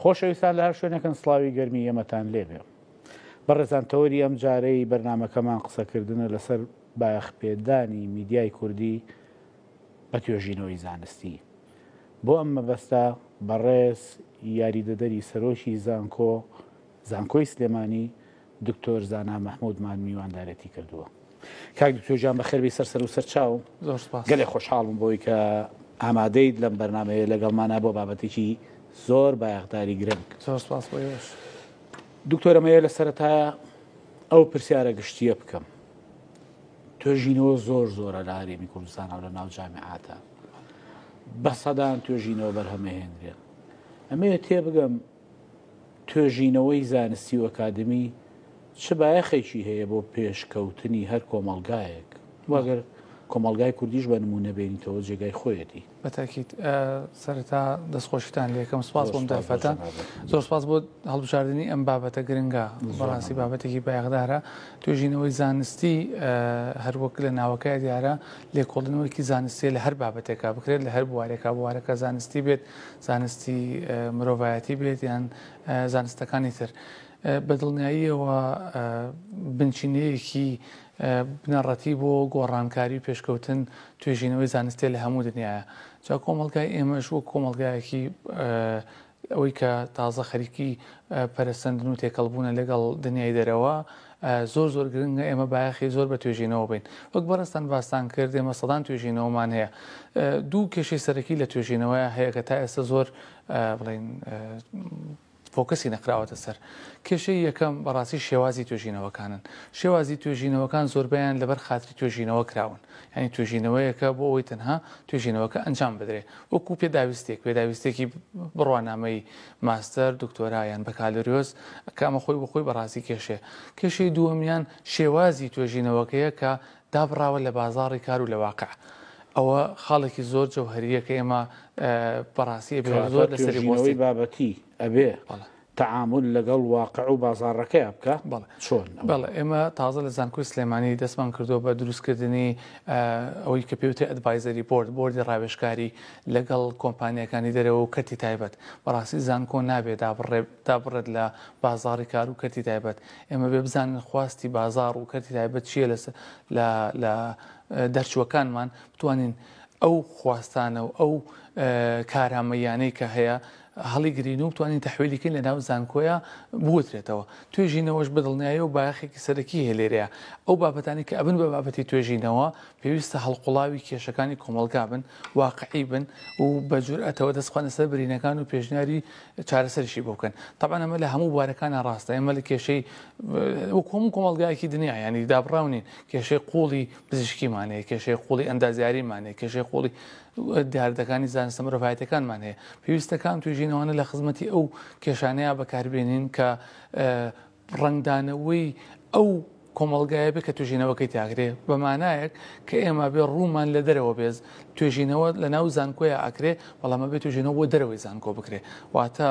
خۆشەویستان لە هەر شوێنێکن سڵاوی گەرمی یەمەتان لێ بێ. بەڕێزان تەوەری ئەم جارەی بەرنامەکەمان قسەکردنە لەسەر بایەخ پێدانی میدیای کوردی بە توێژینەوەی زانستی. بۆ ئەم مەبەستە بەڕێز یاریدەدەری سەرۆکی زانکۆ زانکۆی سلێمانی دکتۆر زانا مەحمود مان میواندارێتی کردووە کاک دکتۆر جان بەخێربی سەر سەر و سەر چاو زۆر سپاس گەلێ خۆشحاڵم بۆی کە ئامادەیت لەم بەرنمەیە لەگەڵمانە بۆ بابەتێکی زۆر بایەخداری گرنگ زۆر سپاس بۆ ئێوەش دکتۆرەمەیە لە سەرەتایە ئەو پرسیارە گشتیە بکەم توێژینەوە زۆر زۆرە لە هەرێمی کوردستانەوە لە ناو جامعاتە بە سەدان توێژینەوە بەرهەمەهێنرێن ئەمەیە تێ بگەم توێژینەوەی زانستی و ئەکادمی چ بایەخێکی هەیە بۆ پێشکەوتنی هەر کۆمەڵگایەک؟ وا گەر کۆمەڵگای کوردیش بە نموونە بێنیتەوە جێگای خۆیەتی. بە تاکید. سەرەتا دەستخۆشیتان لێ یەکەم سوپاس بۆم دەرفەتە. زۆر سوپاس بۆ هەڵبژاردنی ئەم بابەتە گرنگە. بەڕاستی بابەتێکی بایەخدارە. توێژینەوەی زانستی هەروەک لە ناوەکەیا دیارە لێکۆڵینەوەیەکی زانستییە لە هەر بابەتێکا بکرێت، لە هەر بوارێکا، بوارەکە زانستی بێت، زانستی مرۆڤایەتی بێت یان زانستەکانی تر بە دڵنیاییەوە بنچینەیەکی بنەڕەتی بۆ گۆڕانکاری و پێشکەوتن توێژینەوەی زانستێ لە هەموو دنیاە جا کۆمەلگای ئێمەش وەک کۆمەلگایەکی ئەوەی کە تازە خەریکی پەرسەندن و تێکەڵبوونە لەگەڵ دنیای دەرەوە زۆر زۆر گرنگە ئێمە بایەخی زۆر بە توێژینەوە بەین. وەک بەڕێزتان باستان کرد ئێمە سەدان توێژینەوەمان هەیە. دوو کێشەی سەرەکی لە توێژینەوەیە هەیە کە تا ئێستا زۆر بڵێین فۆکەسی نەکراوەتە سەر. کێشەی یەکەم بەڕاستی شێوازی توێژینەوەکانن. شێوازی توێژینەوەکان زۆربەیان لەبەر خاتری توێژینەوە کراون. یانی توێژینەوەیەکە بۆ ئەوەی تەنها توێژینەوەکە ئەنجام بدرێ. وەکوو پێداویستێک، پێداویستێکی بڕوانامەیی. ماستەر، دکتۆرا یان بەکالۆریۆس کە ئەمە خۆی بۆ خۆی بە ڕاستی کێشەیە. کێشەی دووەمیان شێوازی توێژینەوەکەیە کە دابڕاوە لە بازاڕی کار و لە واقع. ئەوە خاڵێکی زۆر جەوهەرییە کە ئێمە بە ڕاستی ئەبێ زۆر کەواتە لەسەری توێژینەوەی بوەستین. بابەتی ئەبێ بەڵێ. تەعامول لەگەڵ واقع و بازاڕەکەیا بکا؟ بەڵێ. چۆن ئەوە؟ بەڵێ ئێمە تازە لە زانکۆی سلێمانی دەستمان کردووە بە دروستکردنی ئەوەی کە پێی وترێ ئەدڤایزەری بۆرد، بۆردی ڕاوێژکاری، لەگەڵ کۆمپانیاکانی دەرەوە و کەرتی تایبەت، بەڕاستی زانکۆ نابێ دابڕێت لە بازاڕی کار و کەرتی تایبەت، ئێمە بێ بزانین خواستی بازاڕ و کەرتی تایبەت چییە لە دەرچووەکانمان بتوانین ئەو خواستانە و ئەو کارامەییانەی کە هەیە، هەڵیگرین و بتوانین تەحویلی کەین لە ناو زانکۆیە بوترێتەوە توێژینەوەش بە دڵنیایی و بایەخێکی سەرەکی هەیە لێرەیە ئەو بابەتانی کە ئەبن بە بابەتی توێژینەوە پێویستە هەڵقوڵاوی کێشەکانی کۆمەڵگا بن واقعی بن و بە جورئەتەوە دەست بخەنە سەر برینەکان و پێشنیاری چارەسەریشی بۆ بکەن طبعا ئەمە لە هەموو بوارەکانە ڕاستە ئێمە لە کێشەی وەکو هەموو کۆمەڵگایەکی دنیا ینی دابڕاو نین کێشەی قوڵی پزیشکیمانەیە کێشەی قوڵی ئەندازیاریمانەیە کێشەی قوڵی دیاردەکانی زانستە مرۆڤایەتیەکانمان هەیە پێویستە کام توێژینەوانە لە خزمەتی ئەو کێشانەیە بەکاربێنین کە ڕنگدانەوەی ئەو کۆمەلگایە بێ کە توێژینەوەکەی تاگرێ بەمانایەک کە ئێمە بێ ڕوومان لە دەرەوە بێز توێژینەوە لە ناو زانکۆیە ئاکرێ بەڵامە بێ توێژینەوە بۆ دەرەوەی زانکۆ بکرێ واتە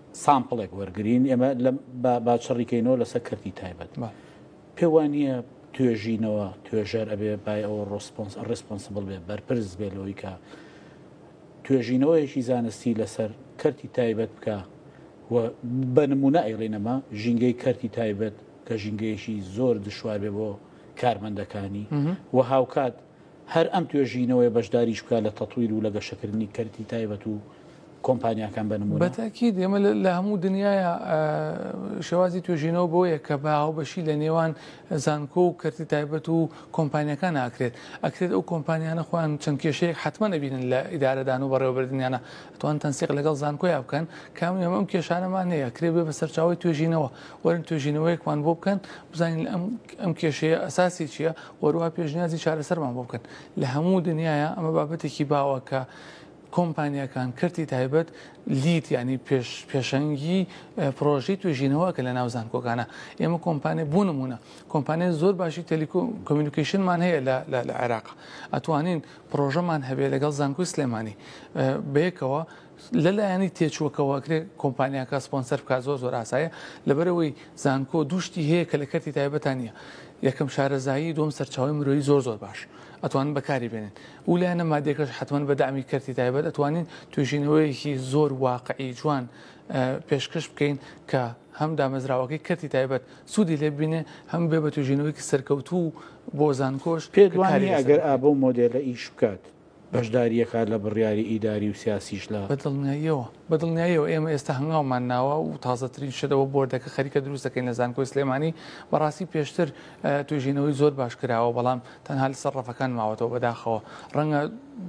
سامپڵێک وەرگرین ئێمە با باچڕیکەینەوە لەسەر کردی تایبەت پێ وانە توێژینەوە توێژەر ئەبێ بای ئەوە ڕۆسپۆنس ڕسپۆنسبل بێ بەرپرس بێ لەوەی کە توێژینەوەیەکی زانستی لەسەر کەرتی تایبەت بکە و بە نمونە ئەیڵێنەما ژینگەی کەرتی تایبەت کە ژینگەیەشی زۆر دشوار بێ بۆ کارمەندەکانی و هاوکات هەر ئەم توێژینەوەیە بەشداریش بکات لە تەتویر و لە گەشەکردنی کەرتی تایبەت و کۆمپانیاکان بە نموونە؟ بە تاکید ئێمە لە هەموو دنیاە شێوازی توێژینەوە بۆیە کە بە هاوبەشی لە نێوان زانکۆ و کەرتی تایبەت و کۆمپانیەکان ئاکرێت ئەکرێت ئەو کۆمپانیانە خۆیان چەند کێشەیەک حتممە نەبینن لە ئیدارەدان و بەڕێوەبردنیانە توان تەنسیق لەگەڵ زانکۆیا بکەن کام ئێمە ئەم کێشانەمان هەیە کرێ بێ بە سەرچاوی توێژینەوە وەرن توێژینەوەیەکمان بۆ بکەن بزانین ئەم ئەم کێشەیە ئەساسی چییە وەروا پێشنیازی چارەسەرمان بۆ بکەن لە هەموو دنیاە ئەمە بابەتێکی باوە کە کۆمپانیەکان کەرتی تایبەت لیت ینی پێشەنگی پرۆژی توێژینەوە کە لە ناو زانکۆکانە ئێمە کۆمپانێ بوو نمونە کۆمپانیای زۆر باشی تەلیکو کمیونیکیشنمان هەیە لە عێراق ئەتوانین پرۆژەمان هەبێ لەگەڵ زانکۆی سلێمانی بەیەکەوە لە لایەنی تێچووەکەوە ئەکرێ کۆمپانیاکە سپۆنسەر بکات زۆر زۆر ئاسایە لەبەرەوەی زانکۆ دوو شتی هەیە کە لە کەرتی تایبەتان نییە یەکەم شارەزایی دوم سەرچاوی مرۆیی زۆر زۆر باش ئەتوانن بەکاری بێنن و لایەنە مادێکەش حتمما بە دامی کەرتی تایبەت ئەتوانین توێژینەوەیەکی زۆر واقعی جوان پێشکەش بکەین کە هەم دامەزراوەکەی کەرتی تایبەت سوودی لێ بینێ هەم بێ بە توێژینەوەیەکی سەرکەوتوو بۆ زانکۆش پێت وانییە ئەگەر ئابە و مۆدێلە ئیش بکات بەشدارییەکان لە بڕیاری ئیداری و سیاسیش لە. بە دڵنیاییەوە بە دڵنیاییەوە ئێمە ئێستا هەنگاومان ناوە و تازەترین شت ئەوە بۆردەکە خەریکە دروست دەکەین لە زانکۆی سلێمانی بەڕاستی پێشتر توێژینەوەی زۆر باش کراوە بەڵام تەنها لەسەر ڕەفەکان ماوەتەوە بەداخەوە ڕەنگە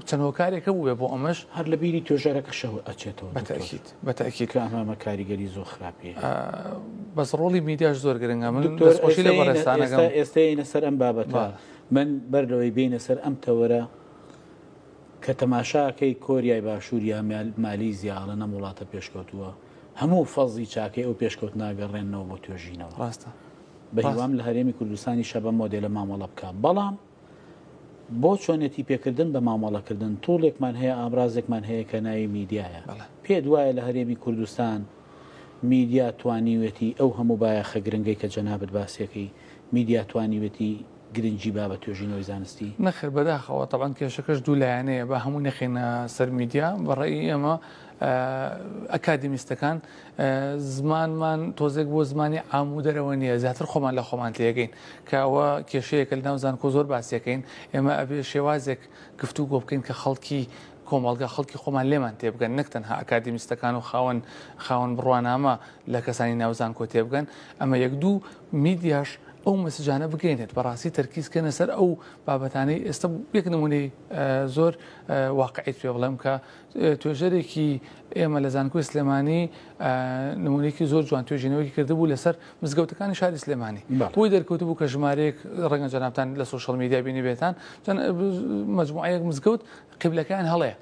چەند هۆکارێک هەبوو بێ بۆ ئەمەش هەر لە بیری توێژەرەکەشەوە ئەچێتەوە بە دکتۆر تەئکید بە تەئکید کە ئەمامە کاریگەری زۆر خراپی هەیە. بەس ڕۆڵی میدیاش زۆر گرنگە من دکتۆر دەستخۆشی لە ئێستە یەینە بەڕێزتان ئێستە ئەکەم. ئێستە یەینە سەر ئەم بابەتە بەڵێ. من بەر لەوەی بێینە سەر ئەم تەوەرە کە تەماشاکەی کۆریای باشوور یا مالیزیا ئەڵێن ئەم وڵاتە پێشکەوتووە هەموو فەزی چاکەی ئەو پێشکەوتنا گەڕێنەوە بۆ توێژینەوە ڕاستە بە هیوام لە هەرێمی کوردستانی شەبە مۆدێلە مامەڵە بکە بەڵام بۆ چۆنێتی پێکردن بە مامەڵەکردن توڵێکمان هەیە ئامرازێکمان هەیە کە ناوی میدیایە پێ دوایە لە هەرێمی کوردستان میدیا توانیوێتی ئەو هەموو بایەخە گرنگەی کە جەنابەت باسیەکەی میدیا توانیوێتی گرنگی با بە توێژینەوەی زانستی؟ نەخێر بەداخەوە، تەبعەن کێشەکەش دوو لایەنەیە، با هەمووی نەخەینە سەر میدیا، بە ڕەئی ئێمە ئەکادیمیستەکان زمانمان تۆزێک بۆ زمانی عام و دەرەوە نییە، زیاتر خۆمان لە خۆمان تێگەین، کە ئەوە کێشەیەکە لەناو زانکۆ زۆر باسیەکەین، ئێمە ئەبێ شێوازێک گفتوگۆ بکەین کە خەڵکی کۆمەڵگا خەڵکی خۆمان لێمان تێبگەن نەک تەنها ئەکادیمیستەکان و خاوەن خاوەن بڕوانامە لە کەسانی ناوزانکۆ تێبگەن ئەمە یەک دوو میدیاش ئەو مەسجانە بگەینێت بەڕاستی تەرکیزکەنە سەر ئەو بابەتانەی ئێستا یەک نمونەی زۆر واقعیت پێ بڵێم کە توێژەرێکی ئێمە لە زانکۆی سلێمانی نمونێکی زۆر جوان توێژینەوەی کردبوو لەسەر مزگەوتەکانی شاری سلێمانی بۆی دەرکەوت بوو کە ژمارەیەک ڕەنگە جەنابان لە سوۆشال میدیا بینی بێتان مجموعەیەک مزگەوت قبلەکان هەڵێ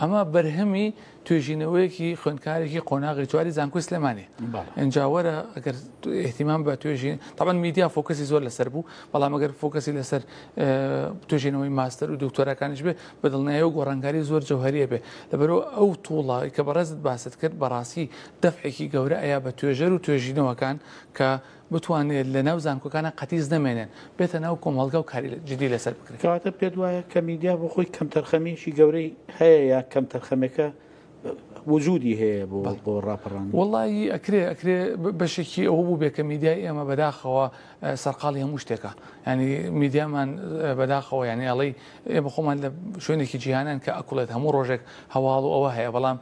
ئەمە بەرهەمی توێژینەوەیەکی خوێندکارێکی قۆناغی چواری زانکۆی سلێمانی ئەنجاوەرە ئەگەر احتیمان بە توێژین تاوان میدیا فۆکەسی زۆر لەسەر بوو بەڵام ئەگەر فۆکەسی لەسەر توێژینەوەی ماستەر و دکتۆرەکانیش بێ بە دڵنیایی ئەو گۆڕانکاری زۆر جەوهەریە بێ لەبەرئەو ئەو توڵە کە بەڕێزت باست کرد بەڕاستی دەفعێکی گەورە ئەیا بە توێژەر و توێژینەوەکان کە بتوانێت لە ناو زانکۆکانا قەتیس نەمێنێن بێتە ناو کۆمەڵگا و کاری جدی لەسەر بکرێت. کەواتە پێت وایە کە میدیا بۆ خۆی کەمتەرخەمیەکی گەورەی هەیە یا کەمتەرخەمێکە وجودی هەیە بۆ بۆ ڕاپەڕان وڵی ئەکرێ ئەکرێ بەشێکی ئەوە بوو بێکە میدیای ئێمە بەداخەوە سەرقاڵی هەموو شتێکە ینی میدیامان بەداخەوە یعنی ئەڵی ئێمە خۆمان لە شوێنێکی جیهانان کە ئەکڵێت هەموو ڕۆژێک هەواڵ و ئەوە هەیە بەڵام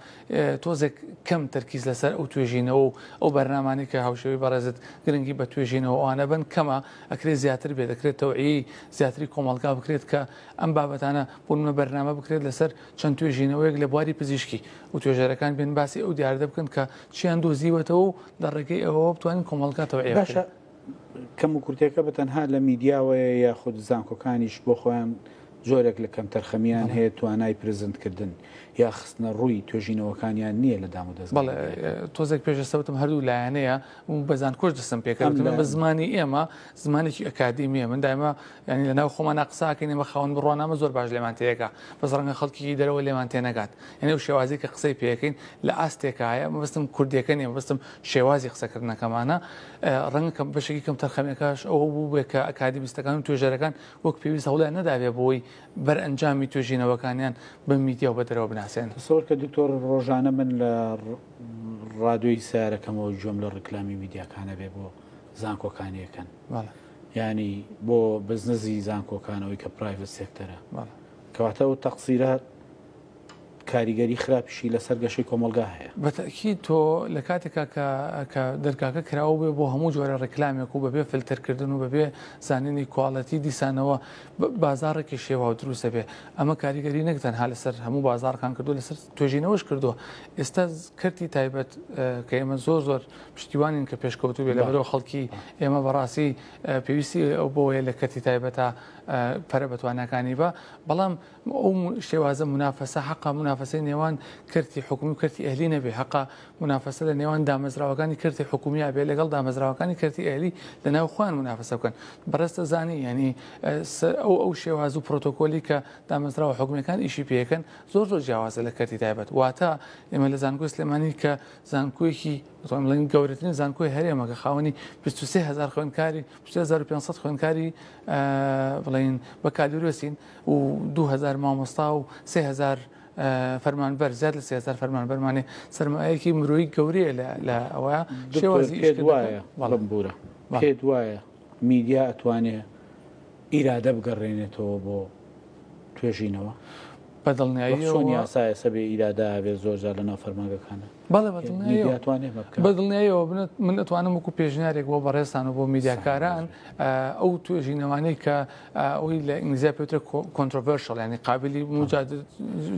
تۆزێک کەم تەرکیز لەسەر ئەو توێژینەوە و ئەو بەرنمانی کە هاوشێوی بەڕێزت گرنگی بە توێژینەوە ئەوانە بن کەمە ئەکرێ زیاتر بێت دەکرێت تەوعی زیاتری کۆمەلگا بکرێت کە ئەم بابەتانە بوونمە بەرنامە بکرێت لەسەر چەند توێژینەوەیەک لە بواری پزیشکی و توێژەرەکان بێن باسی ئەو دیاردە بکەن کە چیان دۆزیوەتەوە و لە ڕێگەی ئەوەوە بتوانین کۆمەڵگا تەوعیە بکەین. باشە کەم و کورتەکە بە تەنها لە میدیاوەیە یاخود زانکۆکانیش بۆ خۆیان جۆرێک لە کەمتەرخەمییان هەیە توانای پرزنتکردن یا خستنەڕووی توێژینەوەکانیان نییە لە دامودەست بەڵێ تۆزێک پێشەسە وتم هەردوو لایەنەیە و بە زانکۆش دەستم پێکردم بە زمانی ئێمە زمانێکی ئەکادیمیە من دایمە یانی لەناو خۆمانا قساکەین ئێمە خاوەن بڕوانامە زۆر باش لێمان تێەگا بەس ڕەنگە خەڵکیکی دەرەوە لێمان تێنەگات یانی ئەو شێوازی کە قسەی پێەکەین لە ئاستێکایە مەبەستم کوردیەکە نیە مەبەستم شێوازی قسەکردنەکەمانە ڕەنگە کە بەشێکی کەم تەرخەمەکەش ئەوە بووبێ کە ئەکادیمیستەکان و توێژەرەکان وەک پێویست هەوڵیان نەدابێ بۆی بەر ئەنجامی توێژینەوەکانیان بە میدیا و بە دەرەوە بناسێن. تەسەوەر کە دکتۆر ڕۆژانە من لە ڕادۆی سەیارەکەمەوە گوێم لە ڕیکلامی میدیاکانەبێ بۆ زانکۆکانیەکەن. یانی بۆ بزنزی زانکۆکانەوەی کە پرایڤت سێکتەرە کەواتە و تەقسیرە کاریگەری خراپشی لەسەر گەشەی کۆمەلگا هەیە بەتەکی تۆ لە کاتێکا کە دەرگاکە کراوە بێ بۆ هەموو جۆرە ڕێکلامێک و بەبێ فلتەرکردن و بەبێ زانینی کوالەتی دیسانەوە بازارڕێکی شێوا و دروستە بێ ئەمە کاریگەری نەکتەن ها لەسەر هەموو بازارڕکان کردو لەسەر توێژینەوەش کردووە ئێستا کەرتی تایبەت کە ئێمە زۆر زۆر پشتیوانین کە پێشکەوتو بێ لەبەرەوە خەڵکی ئێمە بەڕاستی پێویستی ئەو بۆیە لە کەتی تایبەتە پەرە بەتوانەکانی بە بەڵام ئەو شێوازە منافەسە حقا منافەسی نێوان کەرتی حکومی و کەرتی ئەهلی نەبێ حقا منافەسە لە نێوان دامەزراوەکانی کەرتی حکومی بێ لەگەڵ دامەزراوەکانی کەرتی ئەهلی لە ناو خوان منافەسە بکەن بەڕستە زانی ینی ئەو ئەو شێواز و پرۆتۆکۆلی کە دامەزراوە حکومەکان ئیشی پێەکەن زۆر زۆر جیاوازە لە کەرتی تایبەت واتە ئێمە لە زانکۆی سلێمانی کە زانکۆیەکی بڵێن گەورەترین زانکۆی هەرێمە کە خاوەنی 23 هزار خوێندکاری 2500 خوێندکاری بڵین بە کالورۆسین و 2000 مامۆستا و 3000 فەرمانبەر زیاد لە سێزار فەرمان بەرمانێ سرمایەکی مرۆیی گەورەیە لە ئەوە شێوازی وایە بەڵم بورە پێت وایە میدیا ئەتوانێ ئیرادە بگەڕێنێتەوە بۆ توێژینەوە؟ بە دڵنیاییەوە چۆن یاسایە سە بێ ئیرادە ئاوێ زۆر جار لە ناو فەرمانگەکانە بەڵێ بە دڵنیاییەوە توانێ بە بکا. بە دڵنیاییەوە بنت من ئەتوانم وەکو پێشنیارێک بۆ بەڕێزتان و بۆ میدیاکاران ئەو توێژینەوانەی کە ئەوی لە ئینگلیزیا پێوترە کۆنترۆڤەرشڵ ینی قابلی مجاد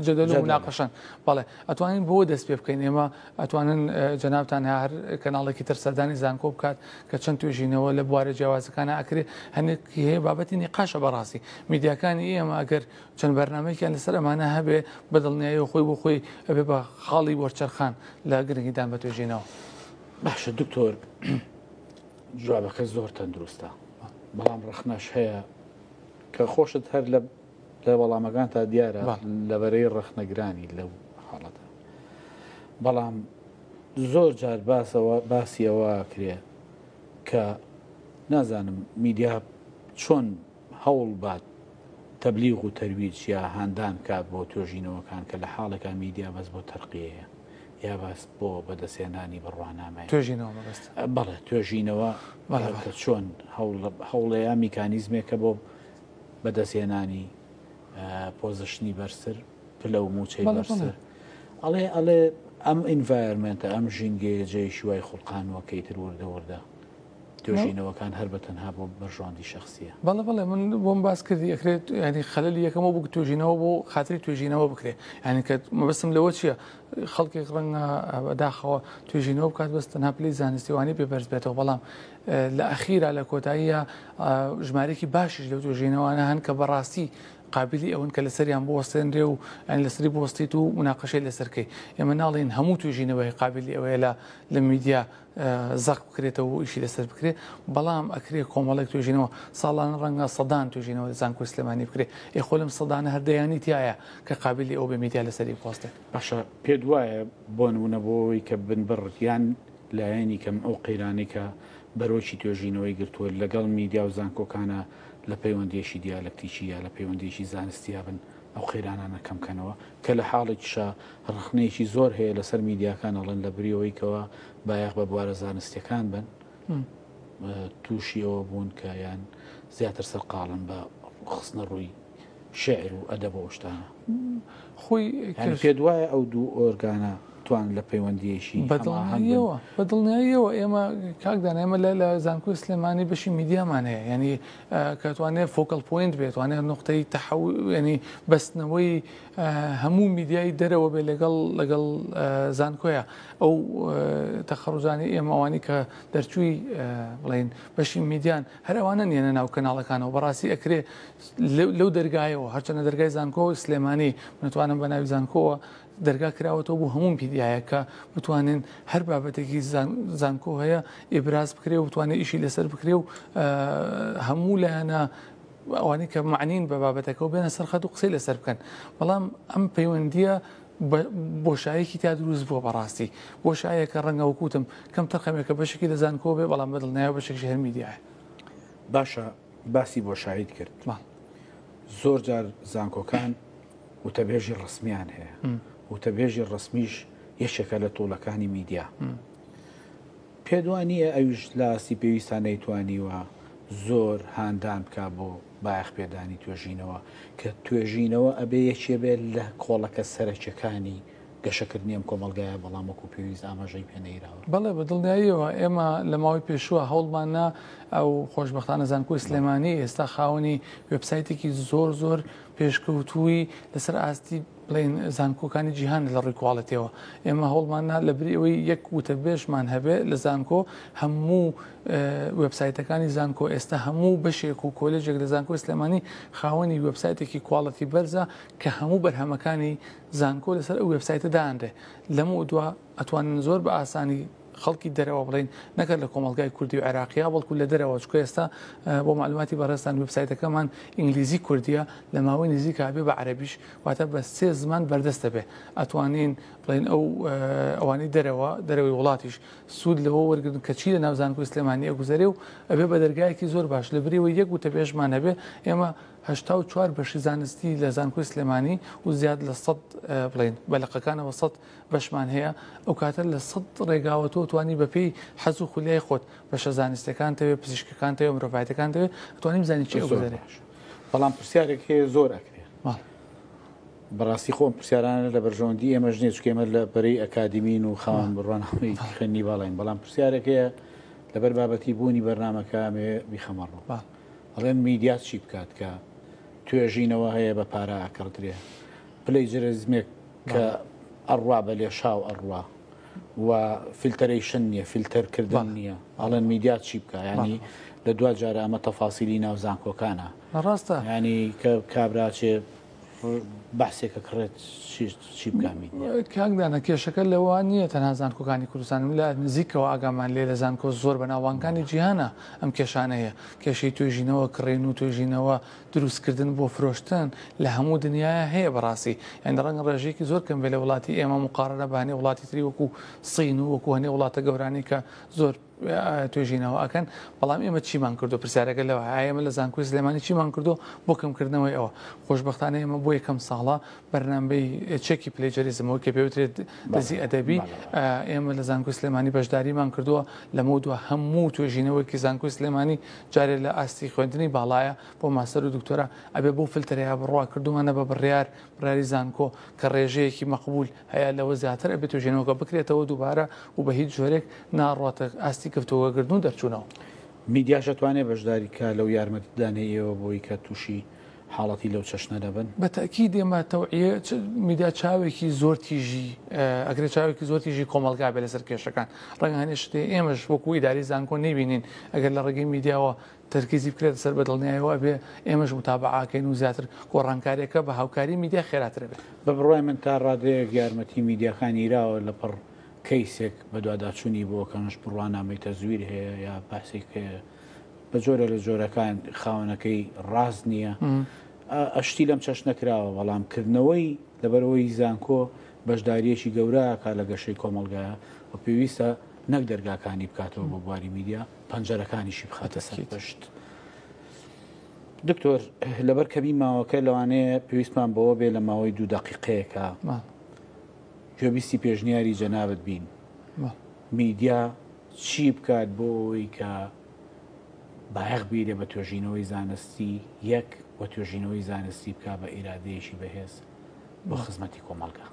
جدل و مناقشەن بەڵێ ئەتوانین بۆ دەست پێ بکەین ئێمە ئەتوانن جەنابتان هە هەر کەناڵێکی تر سەردانی زانکۆ بکات کە چەند توێژینەوە لە بوارە جیاوازەکانە ئەکرێ هەنێکی هەیە بابەتی نیقاشە بەڕاستی میدیاکانی ئێمە ئەگەر چەند بەرنمەیەکیان لەسەر ئەمانە هەبێ بە دڵنیایەوە خۆی بۆ خۆی ئەبێ بە خاڵی وەرچەرخان لە گرنگیدان بە توێژینەوە باشە دکتۆر جوابەکە زۆر تەندروستە بەڵام ڕخنەش هەیە کە خۆشت هەر لە لە وەڵامەکانتا دیارە لەبەرەی ڕەخنەگرانی لەو حاڵەتە بەڵام زۆر جار باسەوە باسیەوە کرێ کە نازانم میدیا چۆن هەوڵ بات تەبلیغ و تەرویج یا هاندان کات بۆ توێژینەوەکان کە لە حاڵێکا میدیا بەس بۆ تەرقیەیە یا باس بۆ بەدەستێنانی بڕوانامای توێژینەوە بەڵێ توێژینەوە چۆن هەوڵەیە میکانیزمێکە بۆ بەدەستهێنانی پۆزشنی بەرزتر پلە و موچەی بەرزتر ئەڵێ ئەڵێ ئەم ئینڤایرمنتە ئەم ژینگەیە جێی شوای خوڵقانەوەکەی تر وردە وردە توێژینەوەکان هەر بە تەنها بۆ بەرژۆندی شخصیە بەڵە بڵێ من بۆم باس کردی ئەکرێت ینی خەلی یەکەمە بوو توێژینەوە بۆ خااتری توێژینەوە بکرێت ینی کە مەبستم لەوە چییە خەڵکێک ڕەنگە بەداخەوە توێژینەوە بکات بەس تەنها پلی زانستیوانی پێ بەرز بێتەوە بەڵام لە ئەخیرا لە کۆتاییا ژمارێکی باشیش لەو توێژینەوانە هەن کە بەڕاستی قابلی ئەوەن کە لەسەریان بوەستێنرێ و ئەنی لەسری بوەستیت و مناقەشەی لەسەرکەی ئێمە ناڵین هەموو توێژینەوەی قابلی ئەوەیە لە لە میدیا زەق بکرێتەوە و ئیشی لەسەر بکرێت بەڵام ئەکرێ کۆمەڵێک توێژینەوە ساڵانە ڕەنگە سەدان توێژینەوە زانکۆی سلێمانی بکرێت ئێ خۆ لەم سەدانە هەردەیانی تایە کە قابلی ئەو بە میدیا لەسەری بوەستێت باشە پێت وایە بۆ نمونە بۆ ئەوەی کە بنبڕ یان لایەنی کەم ئەو قەیرانەی کە بەرۆکی توێژینەوەی گرتووە لەگەڵ میدیا و زانکۆکانە لە پەیوەندییەکی دیالەکتیکی یا لە پەیوەندییەکی زانستییا بن ئەو قەیرانانە کەم کەنەوە کە لە حاڵێکیشا ڕەخنەیەکی زۆر هەیە لەسەر میدیاکان ئەڵێن لە بری ئەوەی کەوا بایەخ بە بوارە زانستیەکان بن تووشی ئەوە بوون کە یان زیاتر سەرقاڵن بە خستنە ڕووی شعر و ئەدەب و ئەو شتانە خۆی یعنی پێت وایە ئەو دوو ئۆرگانە توان لە پەیوەندیەکی بەدڵنیەوە بەدڵنیاییەوە ئێمە کاکدان ئێمە لە لە زانکۆی سلێمانی بەشی میدیامان هەیە ینی کەتوانێت فۆکەڵ پوینت بێتوانێت نقطەی تەحو ینی بەستنەوەی هەموو میدیای دەرەوە بێ لەگەڵ لەگەڵ زانکۆیە ئەو تەخەڕزانی ئێمەوانی کە دەرچووی بڵین بەشی میدیان هەرەوانە نیەنە ناو کەناڵەکانەوە بەڕاستی ئەکرێ لەو دەرگایەوە هەرچەنە دەرگای زانکۆ سلێمانی نتوانم بە ناوی زانکۆوە دەرگا کراوەەوە بۆ هەموو پیدایە کە بتوانین هەر بابەتێکی زانکۆ هەیە ئێبراز بکرێ و بتوانێت ئیشی لەسەر بکرێ و هەموو لایەنە ئەوانی کە معنین بە بابەتەکەەوە بێنە سەرخەت و قسەی لەسەر بکەن بەڵام ئەم پەیوەندیە بۆشایەکی تا دروست بووە بەڕاستی بۆ شایەکە ڕەنگەوە کوتم کەم تەقەمێکە بەشێکی لە زانکۆ بێ بەڵام بەدڵنیایە بەشێک ژێر میدیایە باشە باسی بۆشایید کرد زۆر جار زانکۆکان وتەبێژی ڕسمیان هەیە وتەبێژی ڕسمیش یەکێکە لە تۆڵەکانی میدیا پێدوانیە ئەویش لاستی پێویستان نەیتوانیوە زۆر هاندان بکە بۆ بایەخ پێدانی توێژینەوە کە توێژینەوە ئەبێ یەکێ بێت لە کۆڵەکە سەرەکیەکانی گەشەکردنی ئەم کۆمەڵگایە، بەڵام وەکو پێویست ئاماژەی پێ نەیراوە. بەڵێ بە دڵنیاییەوە ئێمە لە ماوەی پێشووە هەوڵماننا و خۆشبەختانە زانکۆی سلێمانی ئێستا خاوەنی وێبسایتێکی زۆر زۆر پێشکەوتووی لەسەر ئاستی بڵێن زانکۆکانی جیهان لە ڕووی کواڵێتیەوە ئێمە هەوڵماننا لە بری ئەوەی یەک وتەبێژمان هەبێ لە زانکۆ هەموو وێبسایتەکانی زانکۆ ئێستا هەموو بەشێک و کۆلێژێک لە زانکۆی سلێمانی خاوەنی وێبسایتێکی کواڵەتی بەرزە کە هەموو بەرهەمەکانی زانکۆ لەسەر ئەو وێبسایتە دانرێ لەمەو دوا ئەتوانن زۆر بە ئاسانی خەڵکی دەرەوە بڵین نەکرد لە کۆمەڵگای کوردی و عێراقیا بەڵکو لە دەرەوە چکە ئێستا بۆ معلوماتی بەڕێستان وبسایتەکەمان ئینگلیزی کوردیە لە ماوەی نزیک هاابێ بە عەربیش واتە بە سێ زمان بەردەستە بێ ئەتوانین بڵین ئەو ئەوانی دەرەوە دەرەوەی وڵاتیش سوود لەوە وەرگن کە چی لە ناوزانکو سلێمانیە گوزارێ و ئەبێ بە دەرگایەکی زۆر باش لە بریەوە یەک وتە بێژمان هەبێ ئێمە هەشتا و چوار بەشی زانستی لە زانکۆی سلێمانی و زیاد لە سەد بڵێن بە لقەکانەوە سەد بەشمان هەیە ئەو کاتە لە سەد ڕێگاوە تۆ توانی بەپێی حەز و خولیای خۆت بەشە زانستەکان تەوێ پزیشکەکان تەوێ مرۆڤایەتەکان دەوێت توانیم زانانی چی گوزارێش بەڵام پرسیارێک هەیە زۆر ئەکرێ بەڕاستی خۆم پرسیارانە لە بەرژەوەندی ئێمەش نیە چکێمە لە بەری ئەکادیمین و خاوان بڕوانەوەی خوێنی باڵین بەڵام پرسیارێک هەیە لەبەر بابەتی بوونی بەرنمەکە ئەمێ بیخەمەڕوە ئەڵێن میدیا چی بکات کە توێژینەوە هەیە بە پارە ئەکڕدرێ پلەی جرزمێک کە ئەڕوا بە لێشاو ئەڕوا و فیلتەرەیشن نییە فیلتەرکردن نییە ئەڵێن میدیا چی بکە ینی لە دو جارە ئەمە تەفاسیلی ناو زانکۆکانە ڕاستە ینی کە کابراچێ بەحسێکە کڕێت چی بکامیت کاک دانا کێشەکە لەوە نییە تەنها زانکۆکانی کوردستان لە نزیکەوە ئاگامان لێ لە زانکۆ زۆر بە ناوانکانی جیهانە ئەم کێشانە هەیە کێشەی توێژینەوە کڕین و توێژینەوە دروستکردن بۆ فرۆشتن لە هەموو دنیاە هەیە بەڕاستی یان ڕەنگ ڕێژەیەکی زۆر کەم بێ لە وڵاتی ئێمە مقاڕنە بە هەنێ وڵاتی تری وەکو سین و وەکو هەنێ وڵاتە گەورانی کە زۆر توێژینەوە ئەکەن بەڵام ئێمە چیمان کردو پرسیارەکە لەوە ئەمە لە زانکوی سلێمانی چیمان کردو بۆ کەمکردنەوەی ئەوە خۆشببختانە ئێمە بۆ یەکەم ساڵە بەرنمەی چێکی پلەجەریزمەوە کە پێوترێت دەزی ئەدەبی ئێمە لە زانکوی سلێمانی بەشداریمان کردووە لەمە دو هەموو توێژینەوەیکی زانکوی سلێمانی جارێ لە ئاستی خوێندنی باڵایە بۆ ماسەر و دکتۆرا ئەبێ بۆ فلتەرەیە بڕوا کردومانە بە بڕیار بڕاری زانکۆ کە ڕێژەیەکی مەقبول هەیە لەوە زیاتر ئەبێت توێژینەوەکە بکرێتەوە دووبارە و بە هیچ جۆرێک ناڕواتە ئاستی گفتوگۆکردن و دەرچوونەوە. میدیاش ئەتوانێت بەشداری بکات لەو یارمەتیدانەی ئێوە بۆی کە تووشی حاڵەتی لەو چەشنە نەبن؟ بە تەئکید ئێمە تەوعیە میدیا چاوێکی زۆر تیژی ئەگرێت چاوێکی زۆر تیژی کۆمەڵگا بێت لەسەر کێشەکان ڕەنگە هەنێ شتێ ئێمەش وەکو ئیداری زانکۆ نەیبینین ئەگەر لە ڕێگەی میدیاوە تەرکیزی بکرێت سەر بە دڵنیایەوە ئەبێ ئێمەش متابعاکەین و زیاتر گۆڕانکاریەکە بە هاوکاری میدیا خێراتر بێت. بە بڕوای من تا ڕادەیەک یارمەتی میدیاکان یراوە لەپڕ کەیسێک بەدواداچوونی بۆ کەنووش بڕوانامەی تەزویر هەیە یا بەحسێک هەیە بە جۆرە لە جۆرەکان خاوەنەکەی ڕاست نییە ئەشتی لەم چەشنە کراوە بەڵام کردنەوەی لەبەرەوەی زانکۆ بەشداریەکی گەوراکە لە گەشەی کۆمەلگایە و پێویستە نەک دەرگاکانی بکاتەوە بۆ بواری میدیا پەنجەرەکانیشی بخاتە سەر پشت. دکتۆر لەبەر کەمی ماوەکە لەوانەیە پێویستمان بەوە بێ لە ماوەی دوو دقیقەیەەکە پێویستی پێشنیاری جەنابت بین میدیا چی بکات بۆ ئەوەی کە بایەخ بیرێ بە توێژینەوەی زانستی یەک و توێژینەوەی زانستی بکا بە ئیرادەیەکی بەهێز بۆ خزمەتی کۆمەڵگە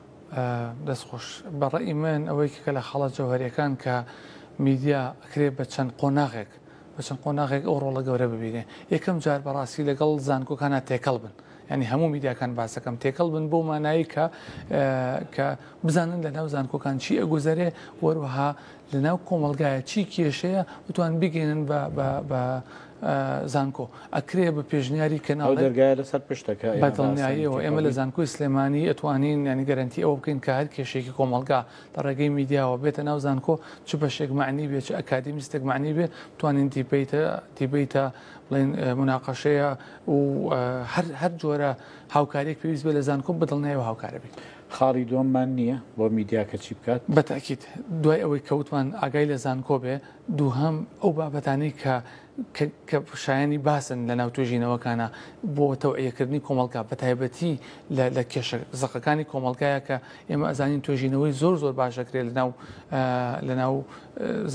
دەستخۆش بەڕێ ئیمن ئەوەی کە لە خەڵە جەوهریەکان کە میدیا ئەکرێ بە چەند قۆناغێک بە چەند قۆناغێک ئەو ڕۆڵە گەورە ببینێ یەکەم جار بەڕاستی لەگەڵ زانکۆکانا تێکەڵ بن ینی هەموو میدیاکان باسەکەم تێکەڵ بن بۆ مانایی کە کە بزانن لە ناو زانکۆکان چی ئەگوزەرێ وەروەها لە ناو کۆمەلگایە چی کێشەیە بتوان بگەێنن بە زانکۆ ئەکرێ بە پێشنیاری کەناڵ دەرگای لەسەر پشتەکە بەدڵنیاییەوە ئێمە لە زانکۆی سلێمانی ئەتوانین ینی گەرنتی ئەو بکەین کار کێشێکی کۆمەلگا لە ڕێگەی میدیاوە بێتە ناو زانکۆ چ بەشێک مەعنی بێ چ ئەکادیمیستێک مەعنی بێ توانین دیبەیتە دیبەیتە بڵێن مناقەشەیە و هەر هەر جۆرە هاوکاریەک پێویست بێ لە زانکۆ بەدڵنیایەوە هاوکارە بین. خاڵی دووەممان نییە بۆ میدیا کە چی بکات؟ بەتاکید دوای ئەوەی کەوتمان ئاگای لە زانکۆ بێ دووهەم ئەو بابەتانی کە کە شایانی باسن لە ناو توێژینەوەکانە بۆ تەوعیەکردنی کۆمەڵگا بە تایبەتی لە کێشە زەقەکانی کۆمەلگایە کە ئێمە ئەزانین توێژینەوەی زۆر زۆر باشەکرێت لەناو لەناو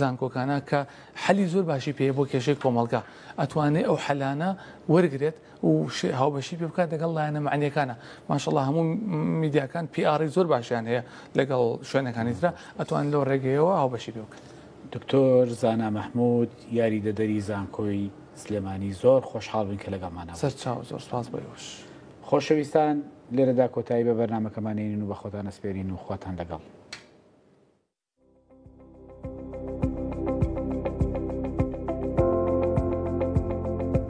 زانکۆکانە کە حەلی زۆر باشی پێ بۆ کێشەی کۆمەلگا ئەتوانێت ئەو حەلانە وەرگێت و هاوبەشی پێ بکات دەگەڵ لایەنە معنیەکانە ماشەڵ هەموو میدیاکان پیاڕی زۆر باشیان هەیە لەگەڵ شوێنەکانی تررا ئەتوان لەو ڕێگەیەوە هاوبەشی پێ بکات. دکتۆر زانا مەحمود یاریدەدەری زانکۆی سلێمانی زۆر خۆشحاڵ بووین کە لەگەڵمانە بوو. سەرچاو زۆر سپاس بۆ ئێوەش. خۆشەویستان لێرەدا کۆتایی بە بەرنامەکەمان دێنین و بەخۆتان ئەسپێرین و خواتان لەگەڵ.